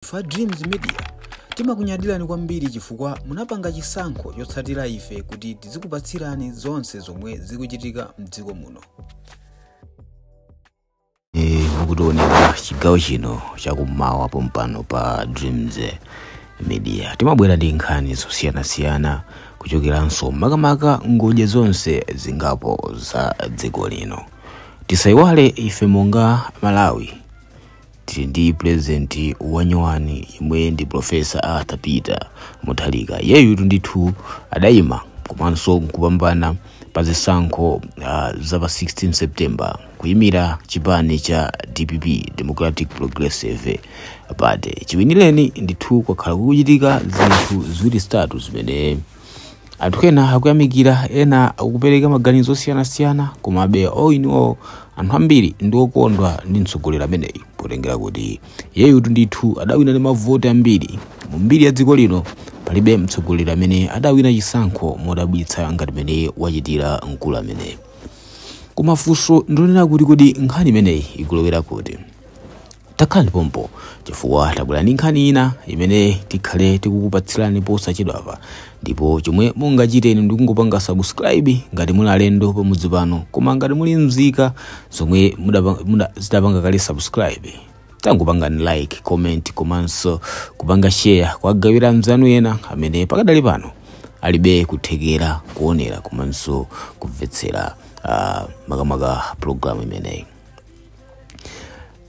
Ife a Dreams Media timakunyadirani kwambiri chifukwa munapanga chisankho chotsatira ife kuti tizikupatsirani zonse zomwe zikuchitika mdziko muno. Eh, mukutionera chigawo chino chakummawa pompano pa dreams eh, media timabwera ndi nkhani zosiyanasiyana kuchokeranso makamaka ngodya zonse zingapo za dziko lino tisayiwale ife monga malawi tili ndi president wanyowani yemwe ndi profesa arthur peter mutharika iyeyutu ndithu adayima komanso nkupambana pa zisankho uh, za pa 16 september kuyimira chipani cha dpp democratic progressive party chiwinireni ndithu kwakhala kukuchitika zinthu ziwiri zitatu zimene anthu ena akuyamikira ena akupereka maganizo osiyanasiyana komabe all in all anthu ambiri ndi okondwa ndi mtsogoleri ameneyi potengera kuti iyeyutu ndithu adawina ndi mavoti ambiri mu mbiri ya dziko lino palibe mtsogoleri amene adawina chisankho modabwitsa ngati mene wachitira mkulu ameneyi koma funso ndonena kuti kodi nkhani imeneyi ikulowera kuti takhalani pompo chifukwa tabwera ndi nkhani ina imene tikhale tikukupatsirani posachedwapa ndipo chomwe mungachite inu ndikungopanga subscribe ngati muli alendo pamudzi pano koma ngati muli mzika zomwe mudapa- muda- zidapanga kale subscribe tangopangani like comment komanso kupanga share kuwagawira anzanu ena amene pakadali pano alibe kuthekera kuonera komanso kumvetsera ah, makamaka programu imeneyi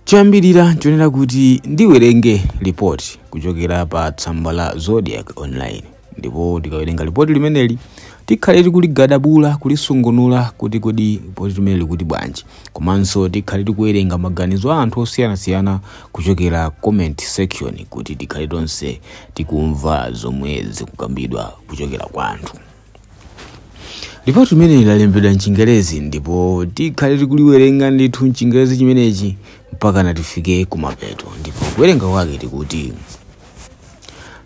choyambirira chonena kuti ndiwerenge lipoti kuchokera pa tsamba la zodiak online ndipo tikawerenga lipoti limeneli tikhale tikuligadabula kulisungunula kuti kodi lipoti limeneli likuti bwanji komanso tikhale tikuwerenga maganizo a anthu osiyanasiyana kuchokera comment section kuti tikhale tonse tikumva zomwe zikukambidwa kuchokera kwa anthu lipoti limeneli lalembedwa mchingerezi ndipo tikhale tikuliwerenga ndithu mchingerezi chimenechi mpakana tifike kumapeto ndipo kuwerenga kwake tikuti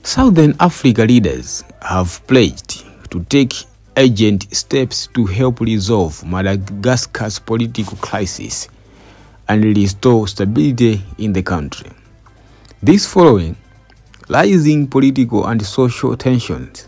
southern africa leaders have pledged to take urgent steps to help resolve madagascar's political crisis and restore stability in the country this following rising political and social tensions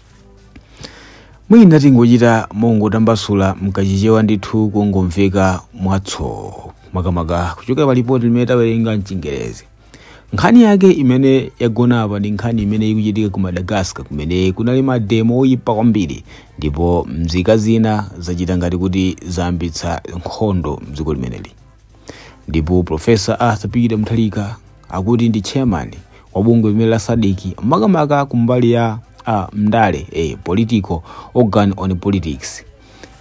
mwina tingochita mongotambasula mkachichewa ndithu kungomveka mwatso makamaka kuchokera pa lipoti limene tawerenga mchingerezi nkhani yake imene yagona apa ndi nkhani imene ikuchitika ku madagascar kumene kunali mademo oyipa kwambiri ndipo mzika zina zachita ngati kuti zayambitsa nkhondo mdziko limeneli Ndipo Prof. Arthur Peter Mutharika akuti ndi chairman wa bungwe limene la SADC makamaka kumbali ya a ndale eh, political organ on politics.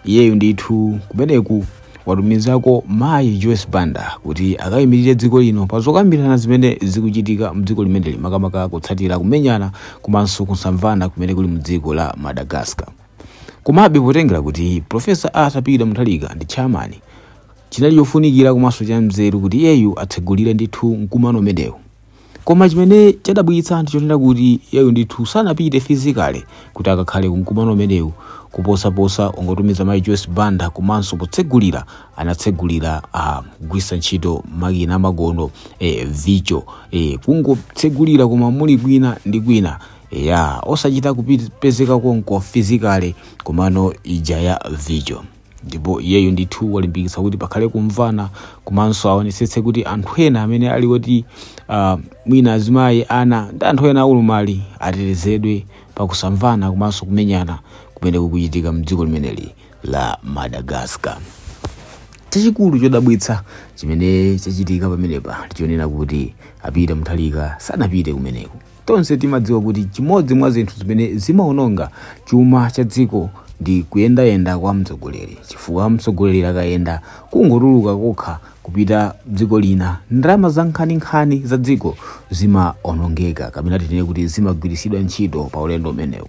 Iyeyu ndithu kumeneku watumizako mayi Joyce Banda kuti akayimirire dziko lino pa zokambirana zimene zikuchitika mdziko limeneli makamaka kutsatira kumenyana komanso kusamvana kumene kuli mdziko la Madagascar. Komabe potengera kuti Profesa Arthur Peter Mutharika ndi chairman Chinali chofunikira komanso cha mzeru kuti iyeyu atsegulire ndithu mkumano umenewu. Koma chimene chadabwitsa ndi chonena kuti iyeyu ndithu sanapite physically kuti akakhale ku mkumano umenewu kuposaposa kungotumiza mayi Joyce Banda komanso potsegulira anatsegulira a ah, kugwiritsa ntchito makina amakono e, eh, virtual e, eh, kungotsegulira koma muli kwina ndi kwina ya osachita kupezeka konko physically komano ija ya virtual ndipo iyeyu ndithu walimbikitsa kuti pakhale kumvana komanso aonetsetse kuti anthu ena amene ali oti uh, mwina azimayi ana ndi anthu ena a ulumali atetezedwe pakusamvana komanso kumenyana kumene kukuchitika mdziko limeneli la madagascar chachikulu chodabwitsa chimene chachitika pamenepa ndi chonena kuti a Peter Mutharika sanapite kumeneko Tonse timadziwa kuti chimodzi mwa zinthu zimene zimawononga chuma cha dziko ndi kuyendayenda kwa mtsogoleri, chifukwa mtsogoleri akayenda kungotuluka kokha kupita dziko lina, ndalama zankhaninkhani za dziko zimaonongeka, kapena tinene kuti zimagwiritsidwa ntchito pa ulendo umenewu.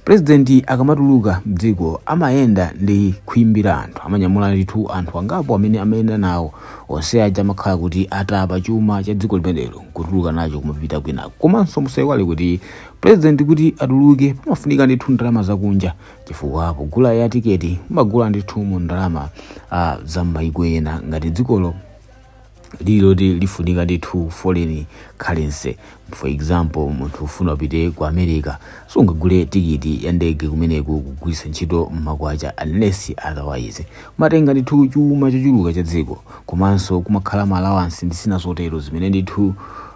pulezidenti akamatuluka mdziko amayenda ndi khwimbi la anthu amanyamula ndithu anthu angapo amene amayenda nawo onse aja amakhala kuti atapa chuma cha dziko limenelo nkutuluka nacho kumapita kwinako komanso musaiwale kuti pulezidenti kuti atuluke pamafunika ndithu ndalama zakunja chifukwa pogula ya tiketi mumagula ndithu mu ndalama ah, za m'mayiko ena ngati dzikolo lili loti lifunika ndithu foreign currency for example munthu ufuna upite ku america sungagule tikiti ya ndege kumeneku kugwiritsa ntchito makwacha unless otherwise amatenga ndithu chuma chochuluka cha dziko komanso kumakhala ma allowance ndi zina zotero zimene ndithu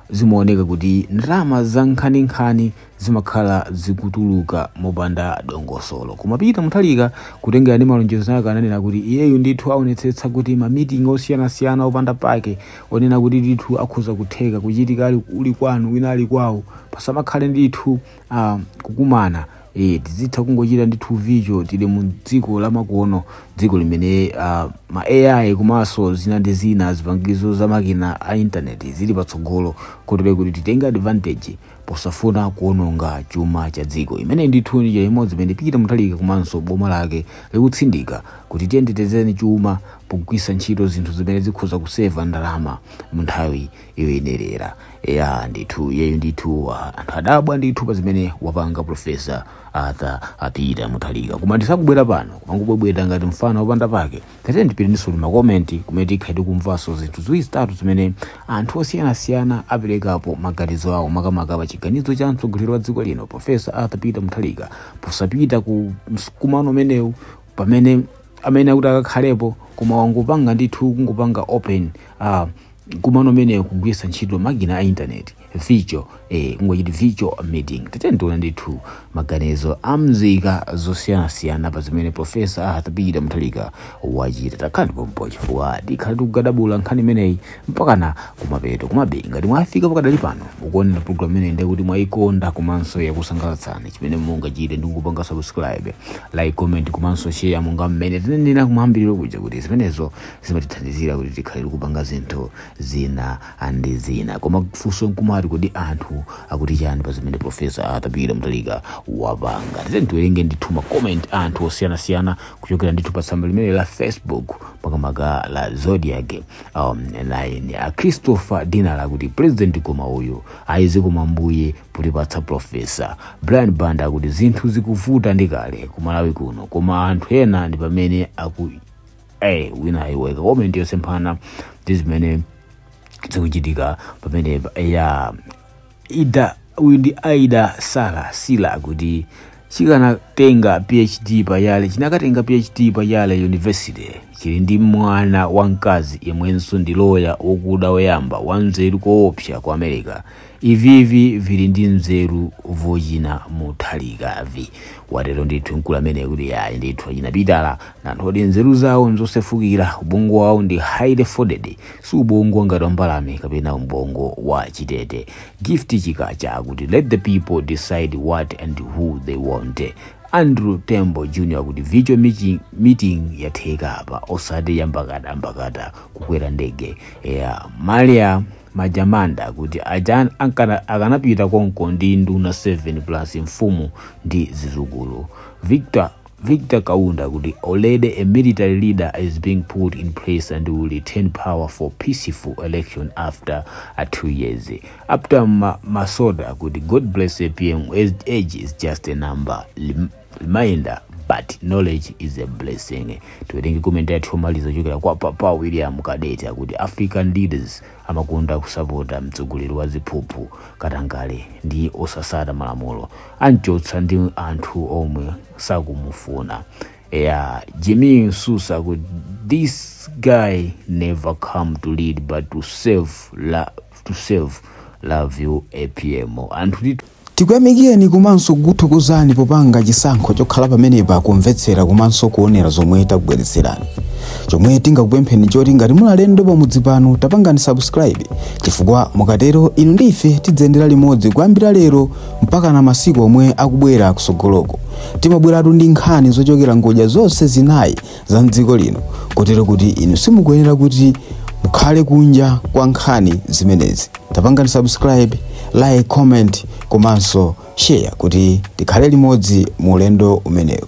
zimaoneka kuti ndalama za nkhaninkhani zimakhala zikutuluka mopanda dongosolo koma Peter Mutharika kutengera ndi malonjezo ake ananena kuti iyeyu ndithu aonetsetsa kuti ma meeting osiyanasiyana opanda pake onena kuti ndithu akhoza kutheka kuchitika ali uli kwanu wina ali kwawo pasamakhale ndithu ah, kukumana e, tizitha kungochita ndithu virtual tili mu dziko lamakono dziko limene uh, ma ai komanso zina ndi zina zipangizo za makina a intaneti zili patsogolo kotero kuti titenge advantage posafuna kuononga chuma cha dziko imeneyi ndithu ndi njira imodzi imene Peter Mutharika komanso boma lake likutsindika kuti tiyeni titetezeni chuma pogwisa ntchito zinthu zimene zikhoza kuseva ndalama mu nthawi yoyenerera ya ndithu iyeyu ndithu uh, anthu adabwa ndithu pa zimene wapanga profesa Arthur Peter Mutharika koma ndisakubwera pano kumangobwebweta ngati mfana wopanda pake Tatiyeni tipite ndithu ku ma comment kumene tikhale tikumvanso zinthu ziwiri zitatu zimene anthu osiyanasiyana aperekapo maganizo awo makamaka pa chiganizo cha mtsogoleri wa dziko lino Professor Arthur Peter Mutharika posapita ku mkumano umenewu pamene amene akuti akakhalepo koma wangopanga ndithu kungopanga open uh, mkumano umenewu kugwiritsa ntchito makina a intaneti virtual eh, kungochita virtual meeting tatiyeni tione ndithu maganizo a mzika zosiyanasiyana pa zimene profesa Arthur Peter Mutharika wachita takhalani pompo chifukwa tikhala tikukadabula nkhani imeneyi mpakana kumapeto komabe ngati mwafika pakadali pano mukuonera programu imeneyi ndiye kuti mwayikonda komanso yakusangalatsani chimene mungachite ndi kupanga subscribe like comment komanso share monga mmene tinanenera kumayambiriro kuja kuti zimenezo zimatithandizira kuti tikhale tikupanga zinthu zina ndi zina koma funso nkumati kodi anthu akuti chani pa zimene profesa Arthur Peter Mutharika wapanga tatiyeni tiwerenge ndithu ma comment a anthu osiyanasiyana kuchokera ndithu pa tsamba limeneli la facebook makamaka la Zodiak Online a christopher dinala akuti president koma uyu ayizi zikomo ambuye potipatsa profesa brian banda akuti zinthu zikuvuta ndi kale kumalawi kuno koma anthu ena ndi pamene aku eh wina iwe wakomenta yosemphana ndi zimene zikuchitika pamene a Aida uyu ndi aida sara sila akuti chikanatenga phd pa yale chinakatenga phd pa yale university chili ndi mwana wamkazi yemwenso ndi loya wokuda woyamba wanzeru koopsa ku america Ivivi vili ndi nzeru vochina Mutharika ivi watero ndithu mkulu ameneyo kuti yayi ndithu achina Pitala ndi anthu oti nzeru zawo nzosefukira ubongo wawo ndi highly folded si ubongo ngati wambalame kapena ubongo wa chitete gift chikacha akuti let the people decide what and who they want andrew tembo jr akuti virtual meeting, meeting yatheka apa osati yambakata mbakata kukwera ndege ya malia majamanda akuti aja ankana- akanapita konko ndi nduna 7 plus mfumu ndi zizukulu victor victor kaunda akuti already a military leader is being put in place and will return power for peaceful election after a two years after ma, masoda akuti god bless apm age is just a number Lim- reminder but knowledge is a blessing tiwerenge komenti yathu yomaliza kuchokera kwa papa william kadeti akuti african leaders amakonda kusapota mtsogoleri wa ziphuphu katangale ndi osatsata malamulo anchotsa ndi anthu omwe sakumufuna eya jimmy nsusa akuti this guy never come to lead but to serve, la, to serve love you apm anthu ndi Tikuyamikireni komanso kukuthokozani popanga chisankho chokhala pamenepa kumvetsera komanso kuonera zomwe takubweretserani. Chomwe tingakupempheni nchoti ngati muli alendo pamudzi pano tapangani subscribe chifukwa mukatero inu ndi ife tidziyendera limodzi kuyambira lero mpakana masiku omwe akubwera kusogoloko. Timabweratu ndi nkhani zochokera ngodya zonse zinayi za mdziko lino kotero kuti inu simukuyenera kuti mukhale kunja kwa nkhani zimenezi tapangani subscribe like comment komanso share kuti tikhale limodzi mu ulendo umenewu